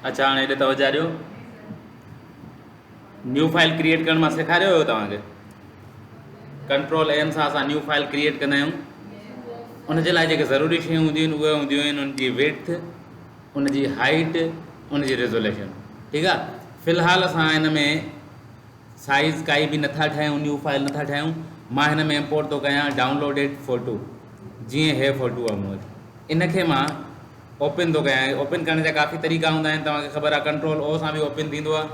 اچا هاڻي هيڏي توجه ڏيو نيو فائل ڪريئيٽ ڪرڻ مان سيکاريو هيو توهان کي ڪنٽرول ايم سان اسان نيو فائل ڪريئيٽ ڪندا آهيون ان جي لاء جيڪي ضروري شيون هونديون آهن اهي هونديون آهن ان جي ويٿ ان جي هائيٽ ان جي ریزوليشن ٺيڪ آ في الحال اسان هن ۾ سائيز ڪائي به نٿا ٺاهيون نيو فائل نٿا ٺاهيون مان هن ۾ امپورٽ ٿو ڪيان ڊائونلوڊيڊ فوٽو جيئن هي فوٽو آهي مون وٽ ان کي مان اوپن ٿو ڪيان اوپن ڪرڻ جا ڪافي طريقا هوندا آهن توهان کي خبر آهي ڪنٽرول او سان به اوپن ٿيندو آهي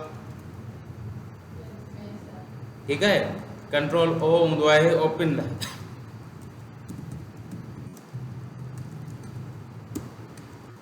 ٺيڪ آهي ڪنٽرول او هوندو آهي اوپن لاء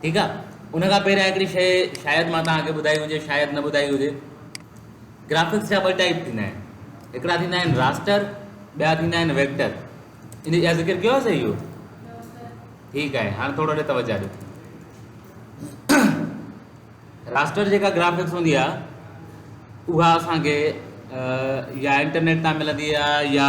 ٺيڪ آ ان کان پهريان هڪڙي شيء شايد مان توهان کي ٻڌائي هجي شايد نه ٻڌائي هجي گرافڪس جا ٻه ٽائپ ٿيندا آهن هڪڙا ٿيندا آهن راسٽر ٻيا ٿيندا آهن ويڪٽر ان جا ذڪر ڪيو سي اهو ٺيڪ آهي هاڻ ٿورو ڏي توجه ڏيو راسٽر جيڪا گرافڪس هوندي آ اها اسان کي يا انٽرنيٽ تان ملندي آ يا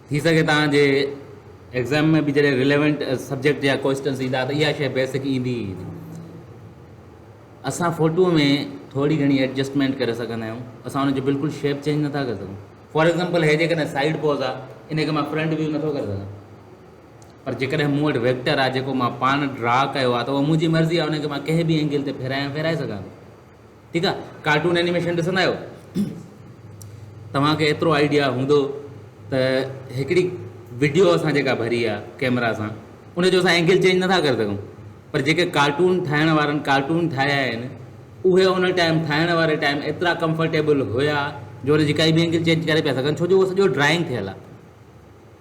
ٿي سگهي توهان جي ايگزام ۾ به جڏهن ريليونٽ سبجيڪٽ يا ڪوئسٽنس ايندا ته اها شيء بيسڪ ايندي ئي ايندي. اسان فوٽوء ۾ ٿوري گهڻي ايڊجسٽمينٽ ڪري سگهندا آهيون، اسان ان جو بلڪل شيپ چينج نٿا ڪري سگهون. فار ايگزامپل هيء جيڪڏهن سائيڊ پوز آهي ان کي مان فرنٽ ويو نٿو ڪري سگهان پر جيڪڏهن مون وٽ ويڪٽر آهي جيڪو مان پاڻ ڊرا ڪيو آهي ته اها منهنجي مرضي آهي ان کي مان ڪنهن به اينگل تي ڦيرائي ۽ ڦيرائي سگهان ٿو. ٺيڪ آ ڪارٽون اينيميشن ڏسندا آهيو توهان کي ايترو آئيڊيا هوندو ته هڪڙي وڊيو اسان جيڪا ڀري آ ڪيمرا سان ان جو اسان اينگل چينج نٿا ڪري سگهون پر جيڪي ڪارٽون ٺاهڻ وارن ڪارٽون ٺاهيا آهن اهي ان ٽائيم ٺاهڻ واري ٽائيم ايترا ڪمفرٽيبل هيا جو ان جي ڪائي به اينگل چينج ڪري پيا سگهن ڇو جو اهو سڄو ڊرائنگ ٿيل آ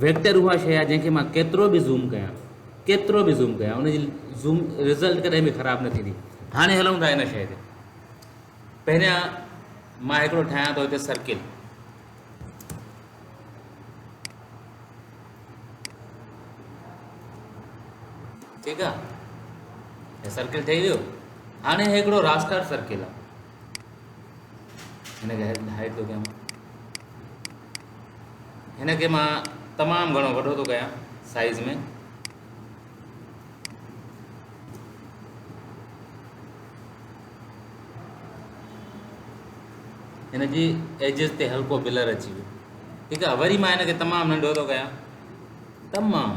ويڪٽر اها شيء آهي جنهن کي مان ڪيترو به زوم ڪيان ڪيترو به زوم ڪيان ان جي زوم رزلٽ ڪڏهن به خراب نه ٿيندي هاڻي هلون ٿا ان شيء تي پهريان مان هڪڙو ٺاهيان ٿو هتي سرڪل ٺيڪ آهي سرڪل ٺهي ويو هاڻي هڪڙو راسٽر سرڪل آهي هن کي هائيڊ ٿو ڪيان هن کي مان تمام گھڻو وڏو ٿو ڪيان سائز ۾ هن جي ايجز تي هلڪو بلر اچي ويو ٺيڪ آ وري مان هن کي تمام ننڍو ٿو ڪيان تمام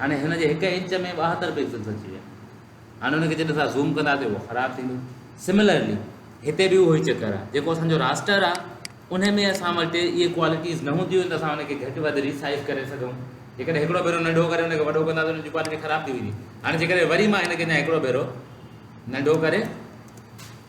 هاڻي هن جي هڪ انچ ۾ ٻاهتر پيڪسلز اچي ويا هاڻي ان کي جڏهن اسان زوم ڪنداسي اهو خراب ٿيندو سملرلي هتي به اهو ئي چڪر آهي جيڪو اسان جو راسٽر آهي ان ۾ اسان وٽ اهي ڪوالٽيز نه هونديون ته اسان ان کي گهٽ وڌ ري سائز ڪري سگهون جيڪڏهن هڪڙو ڀيرو ننڍو ڪري ان کي وڏو ڪنداسي ان جي ڪوالٽي خراب ٿي ويندي هاڻي جيڪڏهن وري مان هن کي اڃا هڪڙو ڀيرو ننڍو ڪري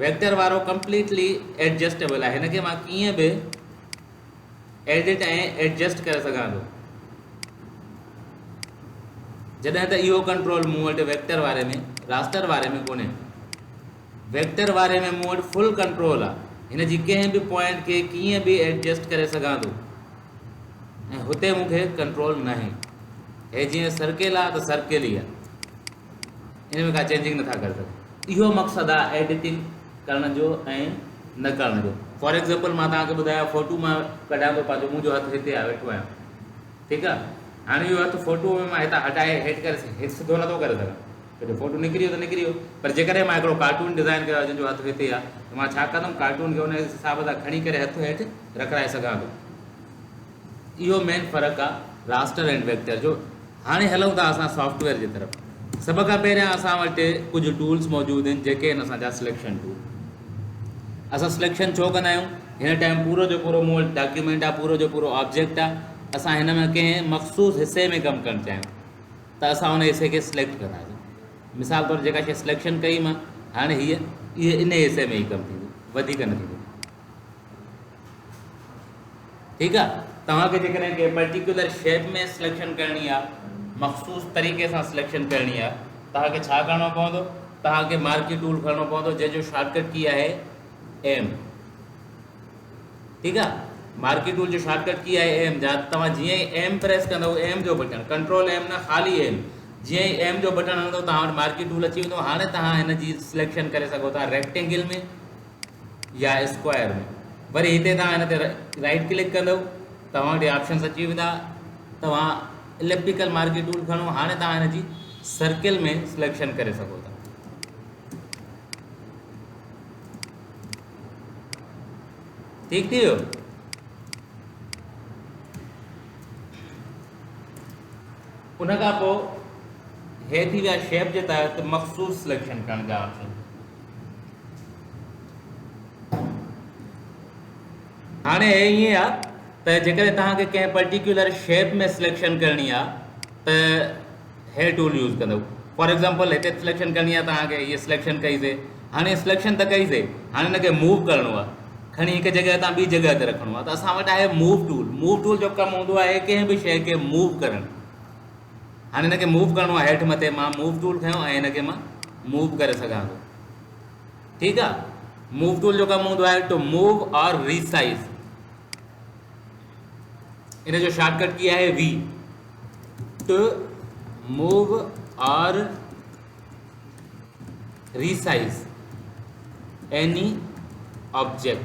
ويڪٽر وارو ڪمپليٽلي ايڊجسٽيبل آهي هن کي مان ڪيئن به ايڊٽ ۽ ايڊجسٽ ڪري سگهان ٿو جڏهن ته اهو ڪنٽرول مون وٽ ويڪٽر واري ۾ راسٽر واري ۾ ڪونهي ويڪٽر واري ۾ مون وٽ فل ڪنٽرول آهي هن جي ڪنهن به پوائنٽ کي ڪيئن به ايڊجسٽ ڪري سگهان ٿو ۽ هتي مون کي ڪنٽرول ناهي هي جيئن سرڪل آهي ته سرڪل ئي آهي ان ۾ ڪا چينجنگ نٿا ڪري سگهون اهو مقصد آ ايڊيٽنگ ڪرڻ جو ۽ نه ڪرڻ جو فار ايگزامپل مان توهان کي ٻڌايا فوٽو مان ڪڍيان ٿو پنهنجو منهنجو هٿ هتي آ ويٺو آهيان ٺيڪ آ هاڻي اهو هٿ فوٽو ۾ مان هتان هٽائي هيٺ ڪري هيٺ سڌو نٿو ڪري سگهان ته جو فوٽو نڪري ويو ته نڪري ويو پر جيڪڏهن مان هڪڙو ڪارٽون ڊيزائن ڪيو آ جنهن جو هٿ هتي آ ته مان ڇا ڪندم ڪارٽون کي ان حساب سان کڻي ڪري هٿ هيٺ رکرائي سگهان ٿو اهو مين فرق آ راسٽر ۽ ويڪٽر جو هاڻي هلون ٿا اسان سافٽ ويئر جي طرف. سڀ کان پهريان اسان وٽ ڪجهه ٽولز موجود آهن جيڪي آهن اسان جا سليڪشن ٽول. اسان سليڪشن ڇو ڪندا آهيون؟ هن ٽائيم پورو جو پورو مون وٽ ڊاڪيومينٽ آهي، پورو جو پورو آبجيڪٽ آهي، اسان هن ۾ ڪنهن مخصوص حصي ۾ ڪم ڪرڻ چاهيون ته اسان ان حصي کي سليڪٽ ڪنداسين. مثال طور جيڪا شيء سليڪشن ڪئي مان هاڻي هيء ان حصي ۾ ئي ڪم ٿيندي وڌيڪ نه ٿيندي. ٺيڪ آ توهان کي جيڪڏهن ڪنهن پرٽيڪيولر شيپ ۾ سليڪشن ڪرڻي آ مخصوص طريقي سان سليڪشن ڪرڻي آ توهان کي ڇا ڪرڻو پوندو توهان کي مارڪي ٽول کڻڻو پوندو جنهن جو شارٽ ڪٽ ڪي آهي ايم ٺيڪ آ مارڪي ٽول جو شارٽ ڪٽ ڪي آهي ايم جا توهان جيئن ئي ايم پريس ڪندو ايم جو بٽن ڪنٽرول ايم نه خالي ايم جيئن ئي ايم جو بٽن هڻندو توهان وٽ مارڪي ٽول اچي ويندو هاڻي توهان هن جي سليڪشن ڪري سگهو ٿا ريڪٽينگل ۾ يا اسڪوائر ۾ وري هتي توهان هن تي رائيٽ ڪلڪ ڪندو توهان وٽ آپشنس اچي ويندا توهان اليپٽيڪل مارڪي ٽول کڻو هاڻي توهان هن جي سرڪل ۾ سليڪشن ڪري سگهو ٿا ٺيڪ ٿي ويو ان کان پوء هي ٿي ويا شيپ جي تحت مخصوص سليڪشن ڪرڻ جا آپشن هاڻي هي ائين آ ته جيڪڏهن توهان کي ڪنهن پرٽيڪيولر شيپ ۾ سليڪشن ڪرڻي آ ته هي ٽول يوز ڪندو فار ايگزامپل هتي سليڪشن ڪرڻي آ توهان کي هي سليڪشن ڪئي سي هاڻي سليڪشن ته ڪئي سي هاڻي هن کي موو ڪرڻو آ کڻي هڪ جڳهه تان ٻي جڳهه تي رکڻو آ ته اسان وٽ آهي موو ٽول موو ٽول جو ڪم هوندو آهي ڪنهن به شيء کي موو ڪرڻ هاڻي هن کي موو ڪرڻو آهي هيٺ مٿي مان موو ٽول کنيو ۽ هن کي مان موو ڪري سگهان ٿو ٺيڪ آ موو ٽول جو ڪم هوندو آهي ٽو موو اور ريسائز ان جو شارٽ ڪٽ ڪي آهي V to move or resize any object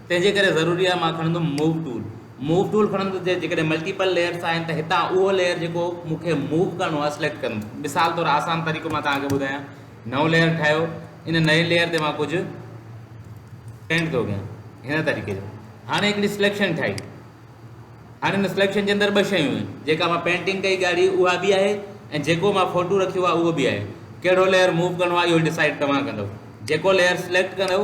تنهن جي ڪري ضروري آهي مان کڻندم Move ٽول Move ٽول کڻندس جي جيڪڏهن ملٽيپل ليئرس آهن ته هتان اهو ليئر جيڪو مون کي Move ڪرڻو آهي سليڪٽ ڪندم مثال طور آسان طريقو مان توهان کي ٻڌايان نئون ليئر ٺاهيو ان نئين ليئر تي مان ڪجهه پينٽ ٿو ڪيان هن طريقي جو هاڻي هڪڙي سليڪشن ٺاهي هاڻي ان سليڪشن جي اندر ٻه شيون آهن جيڪا مان پينٽنگ ڪئي ڳاڙهي اها به آهي ۽ جيڪو مان فوٽو رکيو آهي اهو به آهي ڪهڙو ليئر موو ڪرڻو آهي اهو ڊسائڊ توهان ڪندو جيڪو ليئر سليڪٽ ڪندو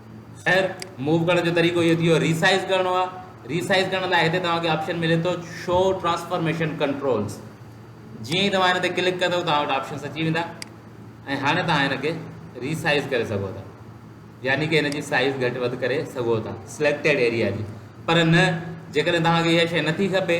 خير موو ڪرڻ جو طريقو اهو ٿيو ري سائز ڪرڻو آهي ري سائز ڪرڻ لاء هتي توهان کي آپشن ملي ٿو شو ٽرانسفارميشن ڪنٽرولز جيئن ئي توهان هن تي ڪلڪ ڪندو توهان وٽ آپشنس اچي ويندا ۽ هاڻي توهان هن کي ري سائز ڪري سگهو ٿا يعني ڪي هن جي سائز گهٽ وڌ ڪري سگهو ٿا سليڪٽيڊ ايريا جي پر نه جيڪڏهن توهان کي اها شيء نٿي کپي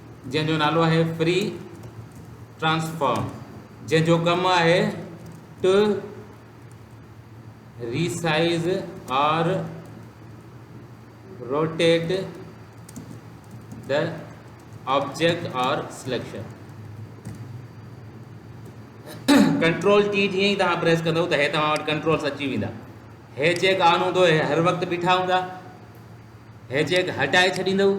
جنهن جو نالو آهي فري ٽرانسفارم جنهن جو ڪم آهي to resize or rotate the object or selection control T جيئن ئي توهان پريس ڪندو ته هي توهان وٽ ڪنٽرولس اچي ويندا هي چيڪ آن هوندو هي هر وقت بيٺا هوندا هي چيڪ هٽائي ڇڏيندو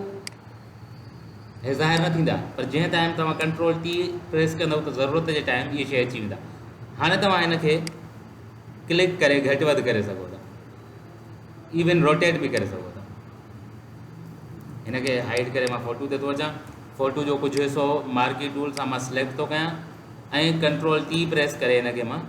هي ظاهر نه ٿيندا پر جنهن ٽائيم توهان ڪنٽرول ٽي پريس ڪندو ته ضرورت جي ٽائيم اهي شي اچي ويندا هاڻي توهان ان کي ڪلڪ ڪري گهٽ وڌ ڪري سگهو ٿا ايون روٽيٽ به ڪري سگهو ٿا هن کي هائيڊ ڪري مان فوٽو تي ٿو اچان فوٽو جو ڪجهه حصو مارڪي ٽول سان مان سليڪٽ ٿو ڪيان ۽ ڪنٽرول ٽي پريس ڪري هن کي مان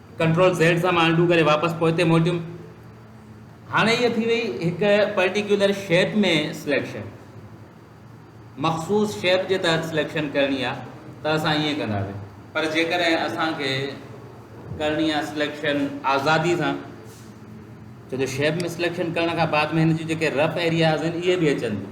ڪنٽرول زيڊ سان مان انڊو ڪري واپس پوئتي موٽيم هاڻي هي ٿي وئي هڪ پرٽيڪيولر شيپ ۾ سليڪشن مخصوص شيپ جي تحت سليڪشن ڪرڻي آ ته اسان ائين ڪنداسين پر جيڪڏهن اسان کي ڪرڻي آ سليڪشن آزادي سان ڇو جو شيپ ۾ سليڪشن ڪرڻ کان بعد ۾ هن جون جيڪي رف ايرياز آهن اهي به اچن ٿيون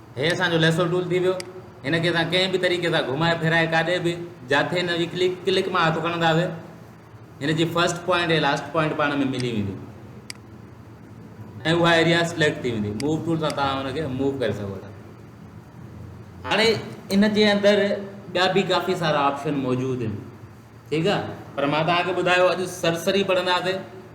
هي اسان جو ليسو ٽول ٿي ويو، هن کي اسان ڪنهن به طريقي سان گهمائي ڦيرائي ڪاڏي به جاٿي هن جي ڪلڪ ڪلڪ مان هٿ کڻنداسي هن جي فرسٽ پوائنٽ ۽ لاسٽ پوائنٽ پاڻ ۾ ملي وينديون ۽ اها ايريا سليڪٽ ٿي ويندي موو ٽول سان توهان هن کي موو ڪري سگهو ٿا هاڻي ان جي اندر ٻيا به ڪافي سارا آپشن موجود آهن ٺيڪ آهي پر مان توهان کي ٻڌايو اڄ سرسري پڙهنداسي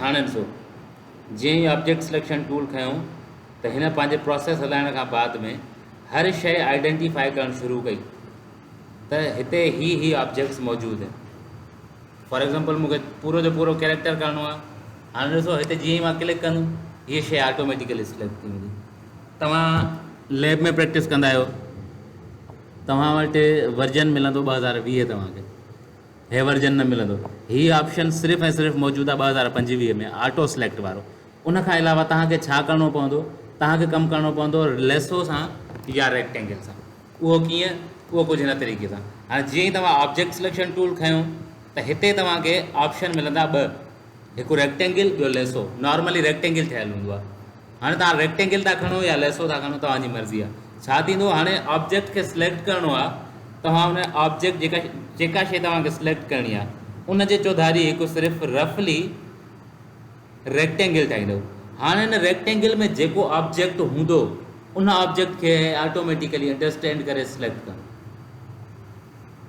هاڻي ڏسو جيئن ئي آبجيڪٽ سليڪشن ٽول کنيو ته هن پنهنجي پروسيس هلائڻ کان بعد ۾ هر شئي آئيڊينٽيفائي ڪرڻ شروع ڪئي ته هتي هي هي آبجيڪٽس موجود آهن فار ایگزامپل مونکي پورو جو پورو ڪيريڪٽر ڪرڻو آهي هاڻي ڏسو هتي جيئن ئي مان ڪلڪ ڪندم هيء شيء آٽوميٽيڪلي سليڪٽ ٿي ويندي توهان ليب ۾ پريڪٽس ڪندا آهيو توهان وٽ ورجن ملندو ٻه هزار ويهه توهان کي هي ورجن نه ملندو هي آپشن صرف ۽ صرف موجود آهي ٻه هزار پنجويهه ۾ آٽو سليڪٽ وارو ان کان علاوه توهان کي ڇا ڪرڻو پوندو توهان کي ڪم ڪرڻو پوندو ليسو سان يا ريڪٽينگل سان اهو ڪيئن اهو ڪجهه هن طريقي سان هاڻي جيئن ئي توهان آبجيڪٽ سليڪشن ٽول کنيو ته هتي توهان کي آپشن ملندا ٻه هڪ ريڪٽينگل ٻيو ليسو نارملي ريڪٽينگل ٺهيل هوندو آهي هاڻي توهان ريڪٽينگل ٿا کڻو يا ليسو ٿا کڻو توهان جي مرضي آهي ڇا ٿيندو هاڻي آبجيڪٽ کي سليڪٽ ڪرڻو آهي توهان ان آبجيڪٽ جيڪا جيڪا شيء توهان کي سليڪٽ ڪرڻي آهي ان جي چوڌاري هڪ صرف رفلي ريڪٽينگل ٺاهيندو هاڻي ان ريڪٽينگل ۾ جيڪو آبجيڪٽ هوندو ان آبجيڪٽ کي آٽوميٽيڪلي انڊرسٽينڊ ڪري سليڪٽ ڪرڻو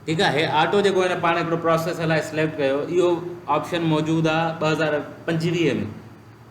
ٺيڪ آ هي آٽو جيڪو هن پاڻ هڪڙو پروسيس هلائي سليڪٽ ڪيو اهو آپشن موجود آ 2025 ۾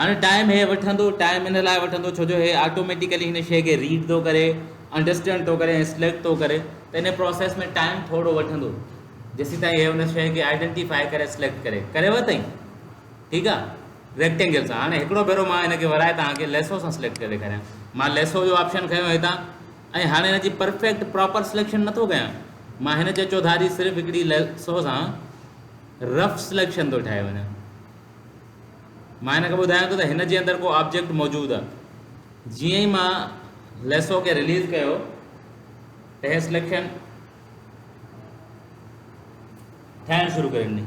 هاڻي ٽائيم هي وٺندو، ٽائيم ان لاء وٺندو ڇو جو هي آٽوميٽيڪلي هن شيء کي ريڊ ٿو ڪري، انڊرسٽينڊ ٿو ڪري ۽ سليڪٽ ٿو ڪري ته ان پروسيس ۾ ٽائيم ٿورو وٺندو جيسيتائين هي ان شيء کي آئيڊنٽيفائي ڪري سليڪٽ ڪري ڪري ورتائين ٺيڪ آ ريڪٽينگل سان هاڻي هڪڙو ڀيرو مان هن کي ورائي توهان کي ليسو سان سليڪٽ ڪري ڏيکاريان مان ليسو جو آپشن کنيو هتان ۽ هاڻي هن جي پرفيڪٽ پراپر سليڪشن نٿو ڪيان مان هن جي چوڌاري صرف هڪڙي ليسو سان رف سليڪشن ٿو ٺاهي وڃان مان هن کي ٻڌايان ٿو ته هن جي اندر ڪو آبجيڪٽ موجود آ جيئن ئي مان ليسو کي رليز ڪيو ته هي سليڪشن ٺاهڻ شروع ڪري ڏني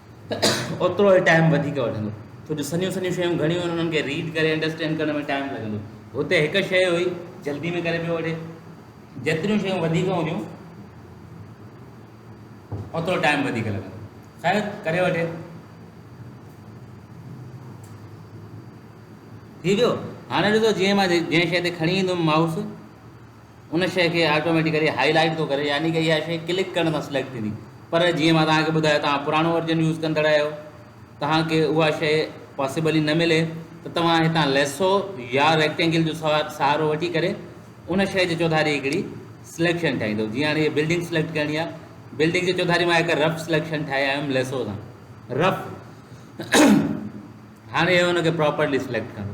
اوترو ئي ٽائيم وڌيڪ وٺندو ڇو جو سنيون سنيون شيون گهڻيون آهن انهن کي ريڊ ڪري انڊرسٽينڊ ڪرڻ ۾ ٽائيم لڳندو هتي هڪ شيء هئي جلدي ۾ ڪري پيو وٺي جيتريون شيون وڌيڪ هونديون اوترو ٽائيم وڌيڪ لڳندو خير ڪري وٺي ٿي ويو هاڻي ڏسو جيئن ماں جنهن شيء تي کڻي ايندم مائوس ان شيء کي آٽوميٽيڪلي هائي لائيٽ ٿو ڪري يعني ڪه اها شيء ڪلڪ ڪرڻ سان سليڪٽ ٿيندي پر جيئن مان توهان کي ٻڌايو توهان پراڻو ورجن يوز ڪندڙ آهيو توهان کي اها شيء پاسيبل ئي نه ملي ته توهان هتان ليسو يا ريڪٽينگل جو سهارو وٺي ڪري ان شيء جي چوڌاري هڪڙي سليڪشن ٺاهيندو جيئن هاڻي هي بلڊنگ سليڪٽ ڪرڻي آهي بلڊنگ جي چوڌاري مان هڪ رف سليڪشن ٺاهي آيو هيم ليسو سان رف هاڻي هن کي پراپرلي سليڪٽ ڪندو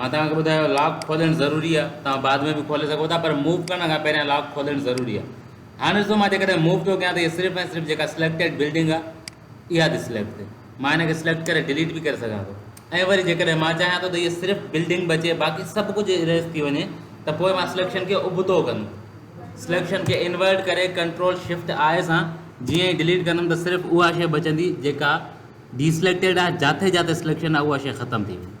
مان توهان کي ٻڌايو لاڪ کولڻ ضروري آ توهان بعد ۾ به کولي سگهو ٿا پر موو ڪرڻ کان پهريان لاڪ کولڻ ضروري آ هاڻ ڏسو مان جيڪڏهن موو ٿو ڪيان ته هي صرف ۽ صرف جيڪا سليڪٽيڊ بلڊنگ آ اها ٿي سليڪٽ ٿي مان هن کي سليڪٽ ڪري ڊليٽ به ڪري سگهان ٿو ۽ وري جيڪڏهن مان چاهيان ٿو ته هي صرف بلڊنگ بچي باقي سڀ ڪجهه اريز ٿي وڃي ته پوء مان سليڪشن کي ابتو ڪندم سليڪشن کي انورٽ ڪري ڪنٽرول شفٽ آء سان جيئن ئي ڊليٽ ڪندم ته صرف اها شيء بچندي جيڪا ڊي سليڪٽيڊ آ جاٿي جاٿي سليڪشن آ اها شيء ختم ٿي ويندي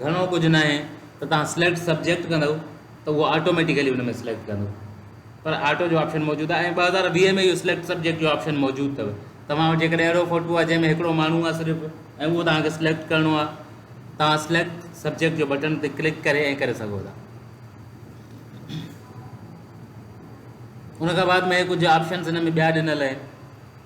گهڻو ڪجهه ناهي ته توهان سليڪٽ سبجيڪٽ ڪندو ته اهو آٽوميٽيڪلي ان ۾ سليڪٽ ڪندو پر آٽو جو آپشن موجود آهي ۽ ٻه هزار ويهه ۾ اهو سليڪٽ سبجيڪٽ جو آپشن موجود اٿو توهان وٽ جيڪڏهن اهڙو فوٽو آهي جنهن ۾ هڪڙو ماڻهو آهي صرف ۽ اهو توهان کي سليڪٽ ڪرڻو آهي توهان سليڪٽ سبجيڪٽ جو بٽن تي ڪلڪ ڪري ۽ ڪري سگهو ٿا ان کان بعد ۾ ڪجهه آپشنس هن ۾ ٻيا ڏنل آهن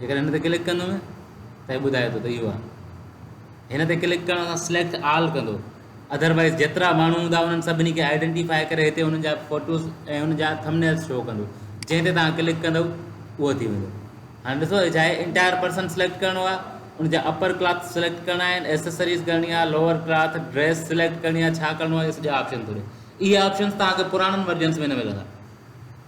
جيڪڏهن هن تي ڪلڪ ڪندم ته هي ٻڌائي ٿو ته اهو آهي هن تي ڪلڪ ڪرڻ سان سليڪٽ آل ڪندو اڌروائز جيترا ماڻهو هوندا انهن سڀني کي آئيڊينٽيفائي ڪري هتي انهن جا فوٽوز ۽ انهن جا ٿمنيل شو ڪندو جنهن تي توهان ڪلڪ ڪندو اهو ٿي ويندو هاڻي ڏسو هي ڇا آهي انٽائر پرسن سليڪٽ ڪرڻو آهي ان جا اپر ڪلاٿ سليڪٽ ڪرڻا آهن ايسيسريز ڪرڻي آهي لوور ڪلاٿ ڊريس سليڪٽ ڪرڻي آهي ڇا ڪرڻو آهي سڄا آپشن ٿو ڏي اهي آپشنس توهان کي پراڻن ورجنس ۾ نه ملندا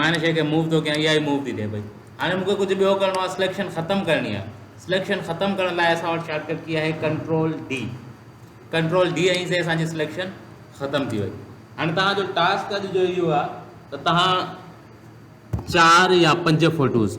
مان هن شيء کي موو ٿو ڪيان اها ئي موو ٿي ڏئي پئي هاڻي مون کي ڪجهه ٻيو ڪرڻو آهي سليڪشن ختم ڪرڻي آهي سليڪشن ختم ڪرڻ لاء اسان وٽ شارٽ ڪٽ ڪي آهي control D control D ۽ C اسان جي سليڪشن ختم ٿي وئي هاڻي توهان جو ٽاسڪ اڄ جو اهو آهي ته توهان چار يا پنج فوٽوز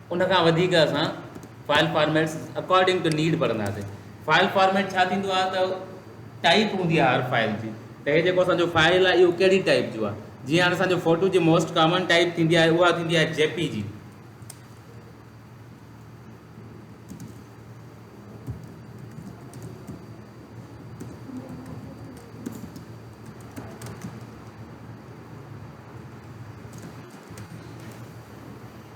ان کان وڌيڪ اسان file formats according to need ڀرنداسين فائل فارميٽ ڇا ٿيندو آهي ته ٽائپ هوندي آهي هر فائل جي ته هي جيڪو اسانجو فائل آهي اهو ڪهڙي ٽائپ جو آهي جيئن هاڻي اسانجو فوٽو جي موسٽ ڪامن ٽائپ ٿيندي آهي اها ٿيندي آهي جي پي جي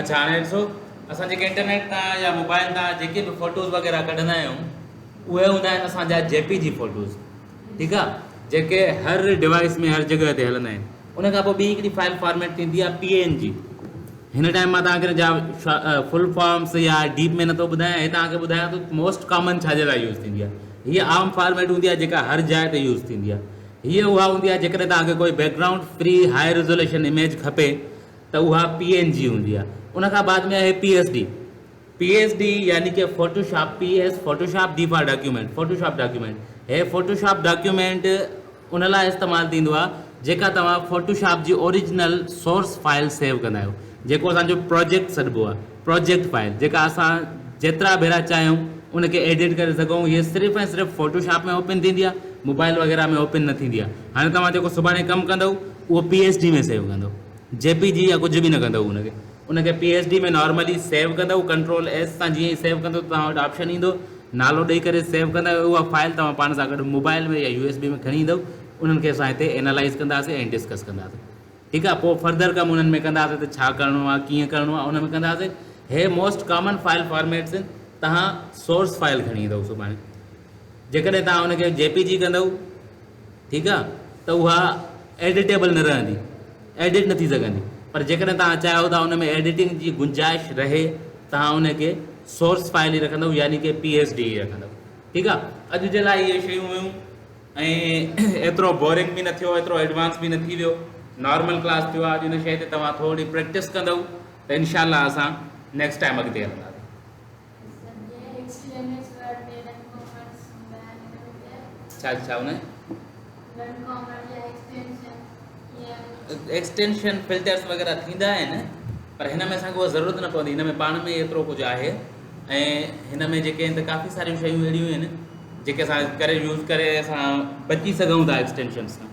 اچ هاڻي ڏسو اسان جيڪي انٽرنيٽ تان يا موبائل تان جيڪي به فوٽوز وغيرہ ڪڍندا آهيون اهي هوندا آهن اسانجا جي پي جي فوٽوز ٺيڪ آ جيڪي هر ڊوائس ۾ هر جگهه تي هلندا آهن ان کان پوء ٻي هڪڙي فائل فارميٽ ٿيندي آهي پي اين جي هن ٽائيم مان توهان کي ان جا فل فارمس يا ڊيپ ۾ نٿو ٻڌايان هي توهان کي ٻڌايان ٿو موسٽ ڪامن ڇا جي لاء يوز ٿيندي آهي هي عام فارميٽ هوندي آهي جيڪا هر جاء تي يوز ٿيندي آهي هي اها هوندي آهي جيڪڏهن توهان کي ڪوئي background free high resolution image کپي ته اها پي اين جي هوندي آهي ان کان بعد ۾ آهي P S D P S D يعني ڪه Photoshop P S Photoshop D for document Photoshop document هي فوٽو شاپ ڊاڪيومينٽ ان لاء استعمال ٿيندو آهي جيڪا توهان فوٽو شاپ جي اوريجنل سورس فائل سيو ڪندا آهيو جيڪو اسان جو پروجيڪٽ سڏبو آهي پروجيڪٽ فائل جيڪا اسان جيترا ڀيرا چاهيون ان کي ايڊيٽ ڪري سگهون هي صرف ۽ صرف فوٽو شاپ ۾ اوپن ٿيندي آهي موبائل وغيره ۾ اوپن نه ٿيندي آهي هاڻي توهان جيڪو سڀاڻي ڪم ڪندو اهو پي ايس ڊي ۾ سيو ڪندو جي پي جي يا ڪجهه به نه ڪندو ان کي ان کي P S D ۾ normally save ڪندؤ ڪنٽرول ايس سان جيئن ئي سيو ڪندؤ ته توهان وٽ آپشن ايندو نالو ڏئي ڪري سيو ڪندا آهيو اها فائل توهان پاڻ سان گڏ موبائل ۾ يا يو ايس بي ۾ کڻي ايندؤ انهن کي اسان هتي اينالائز ڪنداسين ۽ ڊسڪس ڪنداسين ٺيڪ آهي پوء فردر ڪم انهن ۾ ڪنداسين ته ڇا ڪرڻو آهي ڪيئن ڪرڻو آهي ان ۾ ڪنداسين هي موسٽ ڪامن فائل فارميٽس آهن توهان سورس فائل کڻي ايندؤ سڀاڻي جيڪڏهن توهان ان کي جي پي جي ڪندؤ ٺيڪ آ ته اها ايڊيٽيبل نه رهندي، ايڊٽ نه ٿي سگهندي، پر جيڪڏهن توهان چاهيو ته ان ۾ ايڊيٽنگ جي گنجائش رهي توهان ان کي سورس فائل ئي رکندؤ يعني ڪي پي ايس ڊي ئي رکندؤ ٺيڪ آ. اڄ جي لاء اهي شيون هيون ۽ ايترو بورنگ به نه ٿيو ايترو ايڊوانس به نه ٿي ويو نارمل ڪلاس ٿيو آ اڄ ان شئي تي توهان ٿورڙي پريڪٽس ڪندؤ ته انشاء الله اسان نيڪسٽ ٽائيم اڳتي هلنداسين. ڇا ڇا هن ايڪسٽينشن فلٽرس وغيرہ ٿيندا آهن پر هن ۾ اسانکي اها ضرورت نه پوندي هن ۾ پاڻ ۾ ايترو ڪجهه آهي ۽ هن ۾ جيڪي آهن ته ڪافي ساريون شيون اهڙيون آهن جيڪي اسان ڪري يوز ڪري اسان بچي سگهون ٿا ايڪسٽينشن سان